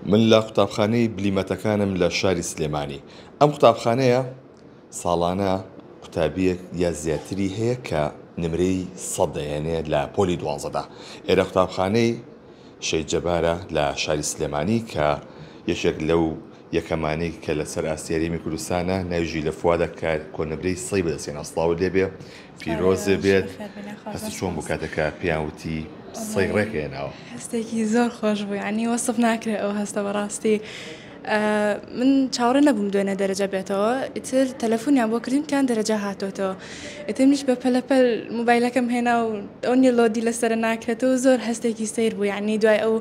من لە قوتابخانەی بلیمەتەکانم لە شاری سلێمانی ئەم قوتابخانەیە ساڵانە قوتابیەک یا زیاتری هەیە کە نمرەی سەد دەێنێ لە پۆلی دوازدە ئێرە قوتابخانەی شەید جەبارە لە شاری سلێمانی کە یەکێک لەو یەکەمانی کە لەسەر ئاستێریمی کوردستانە ناویژی لە فوادا کار کۆنمرەی سەی بەدەستێن ئەسڵاو لێبێ پیرۆزێ بێت هەستی چۆن بوو کاتێک کە پێیان وتی سەی ڕێک هێناوە هەستێکی زۆر خۆش بوو ینی وەسف ناکرێت ئەو هەستە بەڕاستی من چاوەڕێ نەبووم دوێنێ دەرەجە بێتەوە ئیتر تەلەفۆنیان بۆ کردیم کان دەرەجە هاتۆتەوە ئیتر منیش بە پەلەپەل موبایلەکەم هێنا و ئەو نیلۆدی لەسەر ناکرێتەوە زۆر هەستێکی سیر بوو ینی دوای ئەو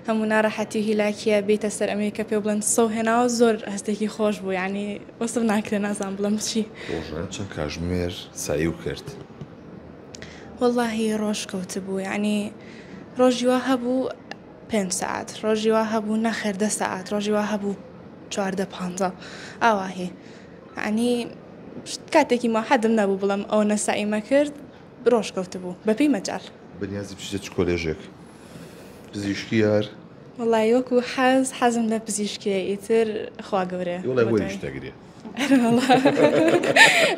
هەموو ناڕەحەتی هیلاکیە بیتە سەر ئەمریکا پێ بڵند سەو هێناوە زۆر هەستێکی خۆش بوو ینی وەسف ناکرێ نازانم بڵێم چی. ڕۆژانە چەند کاژمێر سەعیو کرد؟ وەڵاهی ڕۆژ کەوتبوو یەعنی ڕۆژی وا هەبوو پێنج سەعات ڕۆژی وا هەبوو نەخێر دە سەعات ڕۆژی وا هەبوو چواردە پانزە ئاواهی یەعنی کاتێکی ما حەدم نەبوو بڵێم ئەو نەسەعیمە کرد ڕۆژ کەوتبوو بەپێی مەجال. بەنیازی بچیتە چ کۆلێژێک؟ پزیشکی یار؟ وەڵایی وەکو حەز حەزم لە پزیشکیە ئیتر خوا گەورە وڵێ بۆ شتەگرێ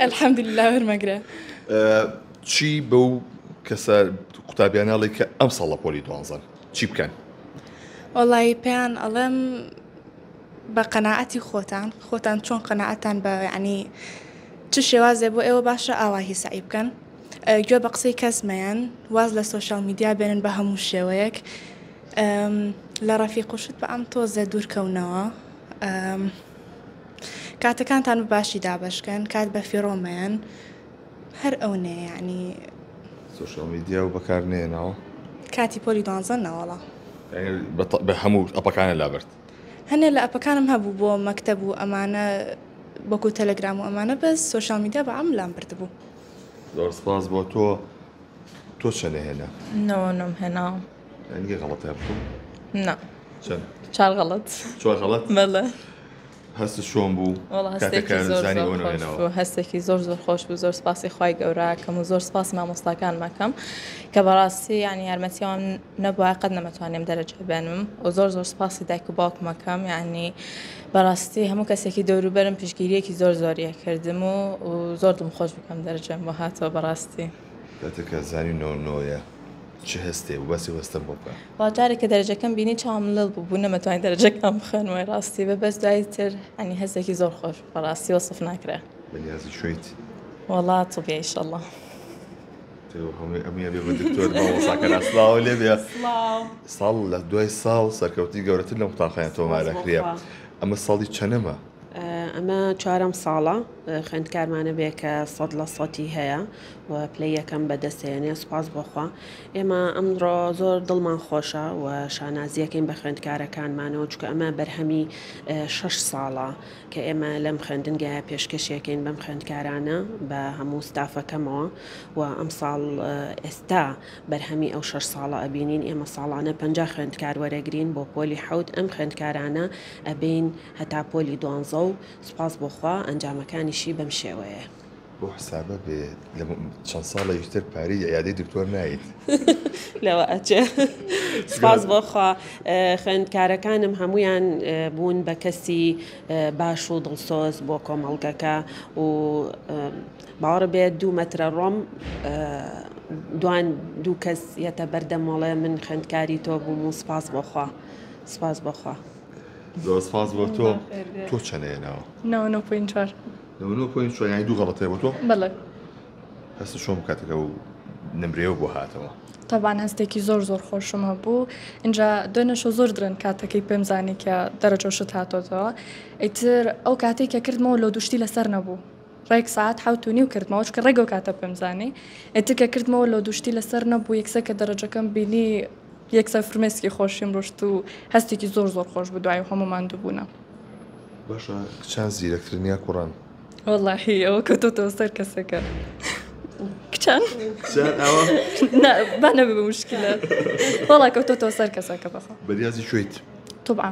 الحمدلله وەرمەگرە چی بەو کەسە قوتابیانناڵی کە ئەم ساڵە پۆلی دوانزان چی بکەن وەڵی پێیان ئەڵێم بە قەنەعەتی خۆتان خۆتان چۆن قەنەعەتان بە ینی چ شێوازێ بۆ ئێوە باشە ئاوا هی سعی بکەن گوێ بە قسەی کەسمەیەن واز لە سوۆشال میدیا بێنن بە هەموو شێوەیەک لە ڕەفیق و شت بە ئەم تۆزێ دوور کەونەوە کاتەکانتان بە باشی دابەشکەن کات بە فیڕۆ مەیەن هەر ئەو نێ یعنی سوشیال میدیا و بەکار نێنەوە کاتی پۆلی دوانزە نەوەڵا بە هەموو ئەپەکانە لابرد هەنێ لە ئەپەکانم هەبوو بۆ مەکتەب و ئەمانە بۆکو تەلەگرام و ئەمانە بەس سوشیال میدیا بە ئەم لام بردبوو زۆر سپاس بۆ تۆ تۆ چەنە هێنا نۆنم هێنا ئەنگێ غەڵەتە بکەم نا چەند چار غەڵەت چوار غەڵەت مەلە هەست شۆم بوو هەستێکی زۆر زۆر خۆش بوو زۆر سپاسی خی گەوراکەم و زۆر سپاس مامۆستاکان مەکەم کە بەڕاستی یان یارمەتیوان نەبووە قەت نەمەتوانێم دەرەجە بێنم و زۆر زۆر سپاسی دایک و باوکمەکەم ینی بەڕاستی هەموو کەسێکی دەوروبەرم پشگیریەکی زۆر زۆریە کردم و زۆر دم خۆش بکەم دەرجەم بۆ هاتەوە بەڕاستی. دەتەکە زانی نۆ نۆیە چ هەستێ و بەسی وەستەم بۆ بکە. وا جارێک کە دەرەجەکەم بینی چاوم لڵ بوو بوو نەمەتوانی دەرەجەکەم بخوێنم وای ڕاستی بە بەس دوای تر ئەنی هەستێکی زۆر خۆش بەڕاستی وەسف ناکرێ. بەنیازی شویت؟ وەڵا تبیە ئیشەڵا. سڵاو لێ بێ ساڵ لە دوای ساڵ سەرکەوتنی گەورەتر لەم قوتابخانە تۆمارەکرێ ئەمە ساڵی چەنەمە؟ ئەمە چوارەم ساڵە خوێندکارمانە بێ کە سەد لە سەتی هەیە و پلەی یەکەم بەدەستێنێ سوپاس بۆخوا ئێمە ئەمڕۆ زۆر دڵمان خۆشە و شانازیەکەین بە خوێندکارەکانمانەوە چکە ئەمە بەرهەمی شەش ساڵە کە ئێمە لەم خوێندنگە پێشکەشیەکەین بەم خوێندکارانە بە هەموو ستافەکەمەوە و ئەم ساڵ ئێستا بەرهەمی ئەو شەش ساڵە ئەبینین ئێمە ساڵانە پ خوێندکار وەرەگرین بۆ پۆلی حوت ئەم خوێندکارانە ئەبین هەتا پۆلی دوانزە و سوپاس بۆ خوا ئەنجامەکانیشی بەم شێوەیە. بەو حسابە بێ لە چەند ساڵێکی تر پارەی عیادەی دکتۆر نایت لەوە ئەچێ سپاس بۆخوا خوێندکارەکانم هەمویان بوون بە کەسی باش و دڵسۆز بۆ کۆمەڵگەکە و باوەڕ بێت دوو مەترە ڕۆم دوان دوو کەس یەتە بەردەمەڵێ من خوێندکاری تۆ بووم و سپاس بۆخوا سپاس بۆخوا. زۆر سپاس بۆ تۆ تۆ چەنە هێناوە یانی دوو غەڵەتێ بۆ تۆ هەست چۆم کاتەکە و نمرێەوە بۆ هاتەوە تابان هەستێکی زۆر زۆر خۆشمە بوو اینجا دوێنەشە زۆر درن کاتەکەی پێم زانی کە دەرەجۆشت هاتۆتەوە ئیتر ئەو کاتێک کە کردمەوە لۆ دوشتی لەسەر نەبوو ڕێک سەعات حەوت و نیو کردمەوە چونکە ڕێک ئەو کاتە پێم زانی ئێتر کە کردمەوە لۆ دوشتی لەسەر نەبوو یەکسەر کە دەرەجەکەم بینی یەکسەر فرمێسکی خۆشیم ڕشت و هەستێکی زۆر زۆر خۆش بوو دوای هەموو ماندوو بوونە. باشە کچان زیرەکترن یا کوڕان؟ وەڵاهی ئەوە کەوتۆتەوە سەر کەسەکە کچان با نەبێ بە مشکلە وەڵا کەوتۆتەوە سەر کەسەکە بەخوا بەریازی کوێیت؟ طبعا.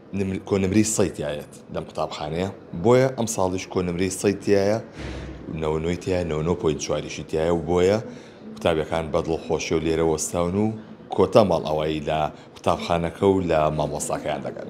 کۆنمرەی سەی تیایەت لەم قوتابخانەیە بۆیە ئەم ساڵیش کۆنمرەی سەی تایە نەوەی تیا نەوە پۆین چواریشی تایە و بۆیە قوتابەکان بەدڵ خۆشی و لێرە وەستاون و کۆتا ماڵ ئەوایی لە قوتابخانەکە و لە مامۆستاکەیان دەگەن.